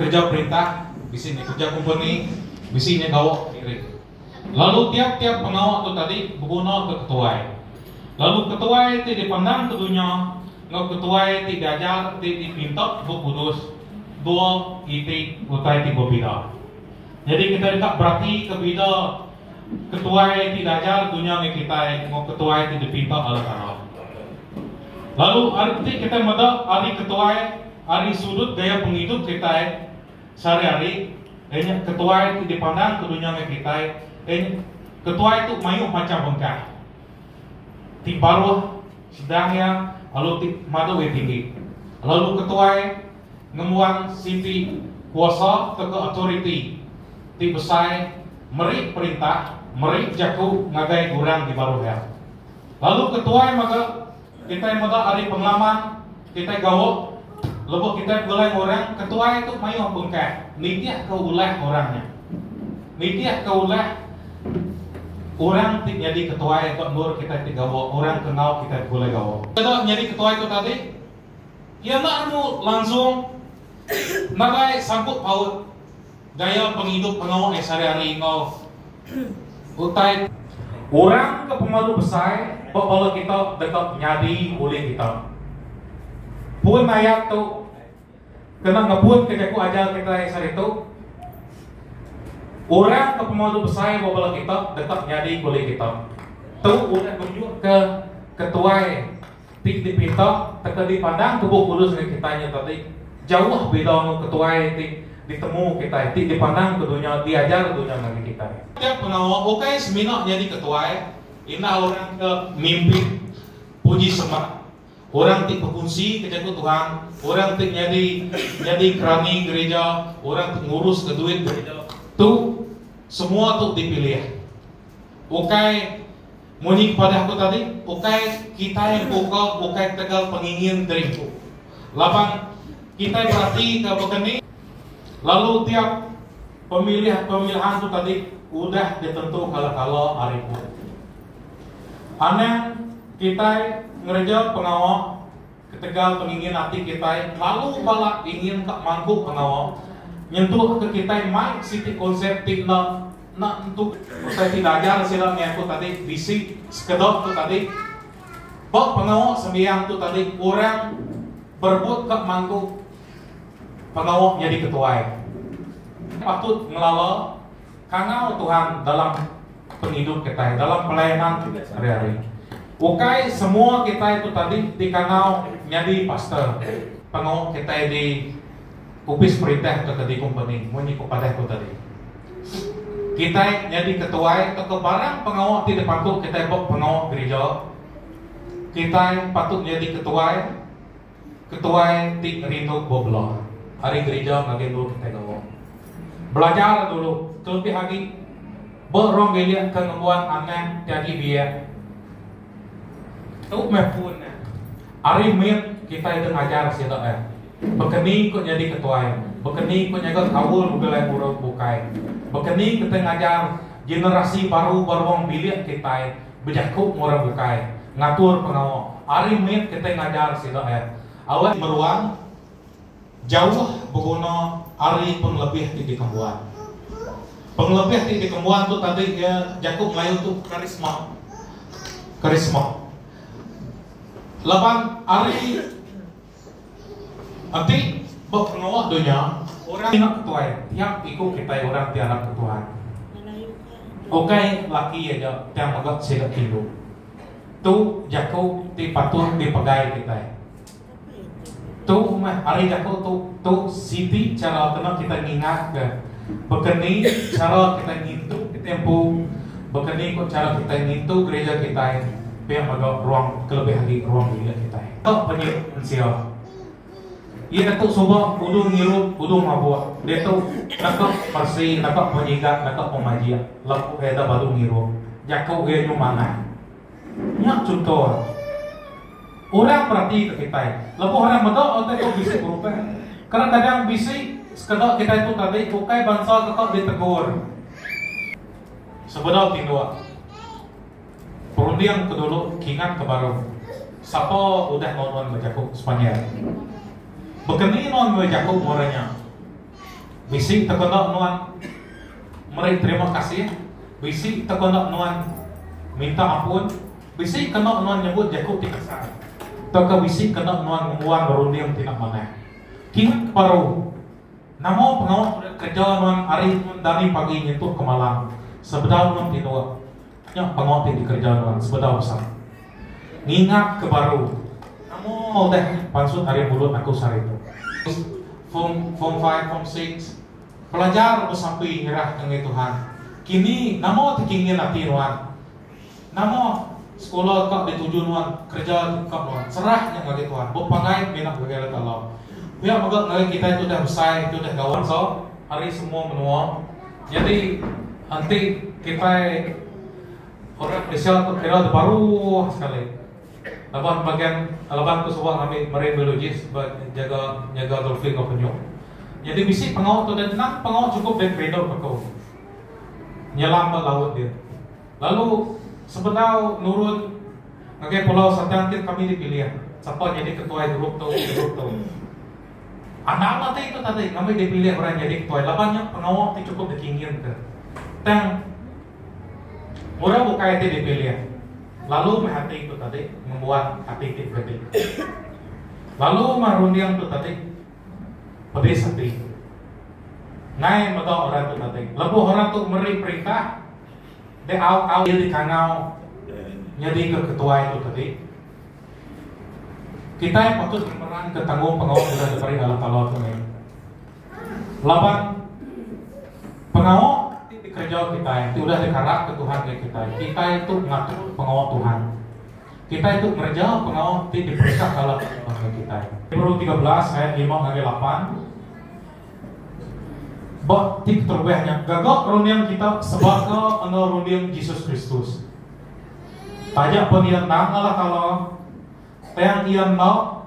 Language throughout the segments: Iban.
Kerja perintah bisi nya kerja kompeni, bisi nya gawa diri. Lalu tiap-tiap pengawa tu tadi begunaka ketuai. Lalu ketuai ti dipandang ke dunya enggau ketuai ti diajar ti dipinta Bup Kudus dua iti utai ti bebida. Nyadi kitai deka beratika bida. Ketuai ti dajar dunya meh kitai enggau ketuai ti dipinta Allah Taala. Lalu ari peti kitai meda ari ketuai ari sudut gaya pengidup kitai sehari-hari, ianya ketuai ti dipandang ke dunya meh kitai en ketuai tu mayuh macham bengkah. Ti baruh, sedang iya lalu ti madu iya tinggi. Lalu ketuai. ngembuan siti kuasa tauka autoriti ti besai meri perintah meri jaku ngagai orang di baruh iya. Lalu ke tuai mega kitai meda ari pengalaman kitai gawa lebuh kitai begulai enggau orang ke tuai tu mayuh bengkah nitihka ulah orang nya. Nitihka ulah orang ti nyadi ke tuai ba endur kitai ti gawa orang ke enggau kitai begulai gawa. Keda nyadi ke tuai tu tadi. Iya enda nemu langsung nadai sangkut paut gaya pengidup menua iya sehari-hari enggau utai. Orang ke pemadu besai ba bala kita deka nyadi ulih kita. Pun ayat tu kena ngepunka jaku ajar kita iya sehari tu, Orang ke pemadu besai ba bala kita deka nyadi ulih kita. Tu udah nunjukka ketuai Ti dipinta teka dipandang ke Bup Kudus ngagai kitai nya tadi, jauh bida enggau ketuai ti ditemu kitai, ti dipandang ke dunya, diajar dunya ngagai kitai. Tiap pengawa ukai semina nyadi ketuai, enda orang ke mimpin puji sembah, orang ti bekunsi ke Jaku Tuhan, orang ti nyadi nyadi kerani gerija, orang ti nguruska duit gerija, tu semua tu dipilih. Ukai. Munyi kepada aku tadi, ukai kitai empu ko ukai ketegal pengingin diri empu. Laban kitai berati ke baka ni, lalu tiap pemilih-pemilihan tu tadi udah ditentu kala-kala ari empu. Anang kitai ngereja pengawa. Ketegal pengingin ati kitai lalu balat ingin ka mangku pengawa, nyentuk ke kitai mai siti konsep ti enda enda tentu. Utai ti diajar sila meh aku tadi bisi sekeda tu tadi, ba pengawa sembiang tu tadi orang berebut ka mangku pengawa nyadi ketuai. Patut ngelala kangau Tuhan dalam pengidup kitai, dalam pelayanan hari-hari. Ukai semua kitai tu tadi dikangau nyadi pastor. Pengawa kitai di opis perintah atau di kompeni, munyi ku padah ku tadi. Kitai nyadi ketuai atau barang pengawa ti dipantu kitai buat pengawa gereja. Kitai patut nyadi ketuai Ketuai ti ngerindu bup bela ari gerija ngagai endur kitai gawa. Belajar dulu, kelebih agi ba ruang bilik ke ngembuan anang ti agi biak. Tu meh pun eh. Ari mit kitai deh ngajar sida eh. Baka ni ku nyadi ketuai, baka ni ku nyaga kaul belai muruk bukai. Baka ni kitai ngajar generasi baru ba ruang bilik kitai. Bejaku enggau orang bukai, ngatur pengawa ari mit kitai ngajar sida eh awak meruang jauh beguna ari pengelebih ti dikembuan. Pengelebih ti dikembuan tu tadi iya jaku Melayu tu karisma. Karisma. Laban ari. Enti ba pengawa dunya, orang nya ke tuai tiap iku kitai orang ti arap ke Tuhan. Ukai laki aja tang mega sida indu. Tu jaku ti patut dipegai kitai. Tu meh ari jaku tu tu siti chara kena kitai ngingatka baka ni chara kitai ngintu kitai empu, baka ni ko chara kitai ngintu gereja kitai. pia mega ruang kelebih agi ruang bilik kitai. Ka penyu ensia. Iya netu suba udu ngirup, udu mabuk. Diatu naka meresi, naka penyigat, naka pemajik laku iya enda badu ngirup. Jaku iya nyu manah. Nya chunto iya. Orang peratika kitai. Lebuh orang meda utai tu bisi berubah. Kadang-kadang bisi sekeda kitai tu tadi ukai bansa deka ditegur sebedau tinduk. Perunding ke dulu kingat ke baru. Sapa udah enggau nuan enggau jaku Sepanyol? Baka ni nuan enggau jaku murah nya? Bisi tau ke enda nuan meri terima kasih? Bisi tau ke enda nuan minta ampun? Bisi ke enda nuan nyebut jaku ti kasar? Tauka bisi ke enda nuan ngembuan berunding ti enda manah? Kingat ke baru. Nama pengawa meda kereja nuan ari dani pagi nyentuk ke malam sebedau nuan tinduk? Nya pengawa ti dikereja nuan sebedau usa. Ngingat ke baru. Amoo udah nya pansut ari mulut aku sehari tu. Form form five form six belajar besapi nyerah ke ngai Tuhan. Kini nama ti ke ngin ati nuan. Nama sekula ka dituju nuan kereja ti ka nuan serah nya ngagai Tuhan bepanggai mina ngagai Allah Taala. Pia mega ngagai kitai ti udah besai ti udah gawa bansa ari semua menua. Nyadi enti kitai orang Malaysia tu kira tu baruh sekali laban bagian laban aku suba ngambi marine biologist jaga nyaga dolphin enggau penyu. Nyadi bisi pengawa tu deh nang pengawa chukup deh kerindu ke aku. Nyelam ba laut deh. Lalu sebedau nurun ngagai pulau Satang ti kami dipilih sapa nyadi ketuai grup tu grup tu. Anang matai tu tadi ngambi dipilih orang nyadi ketuai laban nya pengawa ti chukup dikingginka. Tang orang bukai ti dipilih lalu meh ati tu tadi ngembuan ati ti begati. Lalu meh runding tu tadi pedis ati. Nai mega orang tu tadi lebuh orang tu meri perintah dek au-au iya dikangau nyadika ketuai tu tadi. Kitai patut ngemeranka tanggungpengawa udah diberi Allah Taala tu meh. Laban pengawa ti dikereja kitai ti udah dikarapka Tuhan ngagai kitai, kitai tu ngatur pengawa Tuhan. Kitai tu ngereja pengawa ti diperesahka Allah Taala ngagai kitai. Hebrew tiga belas ayat lima ngagai lapan. Ba ti keterubah nya, gaga runding kita sebaka enggau runding Jesus Kristus. Taja pun iya endang Allah Taala, tang iya enda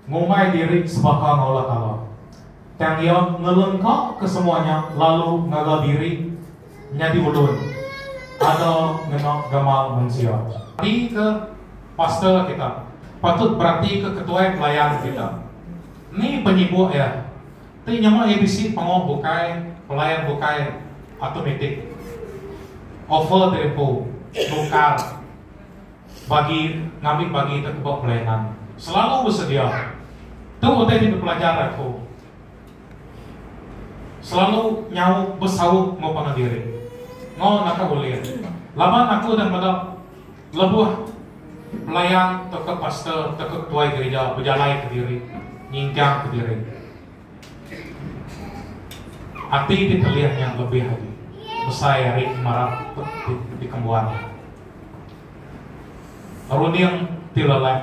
ngumbai diri sebaka enggau Allah Taala. Tang iya ngelengkaka semua nya lalu ngaga diri nyadi ulun ada ngena gamal mensia. Beratika pastor kita. Patut beratika ketuai pelayan kita. Ni penyibuk iya? ti nyema iya bisi pengoh bukai, pelayan bukai, automatik, offer ti diempu, nukar, bagi ngambi bagi te teba pelayanan, selalu besedia. Tu utai ti dipelajar aku. Selalu nyaup besaut enggau pangan diri. Enggau naka ulih. Laban aku udah meda. Lebuh tu, pelayan tauka pastor tauka ketuai gerija bejalai kediri nyingkang kediri ati ti telih nya lebih agi besai ari pemarap ti dikembuan iya. Runding ti leleh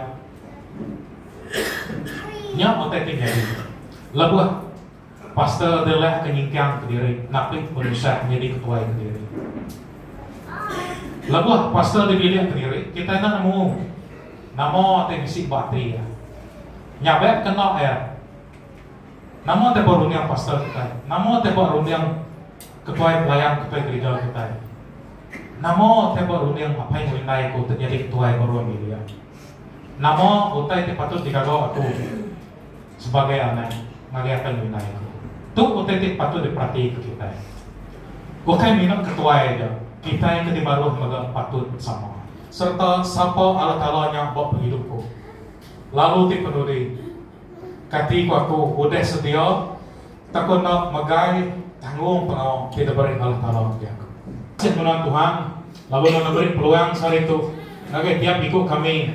nya utai ti nyadi lebuh. Pastor Abdullah ke nyingkang kediri napi penusah nyadi ketuai kediri. Lebuh pastor dipilih kediri, kitai enda nemu nama ti bisi ba ati iya. Nya be kena iya. Nama ti ba runding pastor kitai? Nama ti ba runding ketuai pelayan ketuai gerija kitai? Nama ti ba runding apai enggau indai aku ti nyadi ketuai baru agi dia? Nama utai ti patut digaga aku? sebagai amat ngagai apai nyunai aku. Tu utai ti patut diperatika kitai. Ukai minu ketuai aja, kitai ke dibaruh mega patut sama. Sereta sapa Allah Taala nya ba pengidup ku. Lalu ti penudi, kati ku aku udah sedia tauka enda megai tanggungpengawa ti diberi Allah Taala ngagai aku. Kasih guna Tuhan lalu enda neberi peluang sehari tu ngagai tiap iku kami.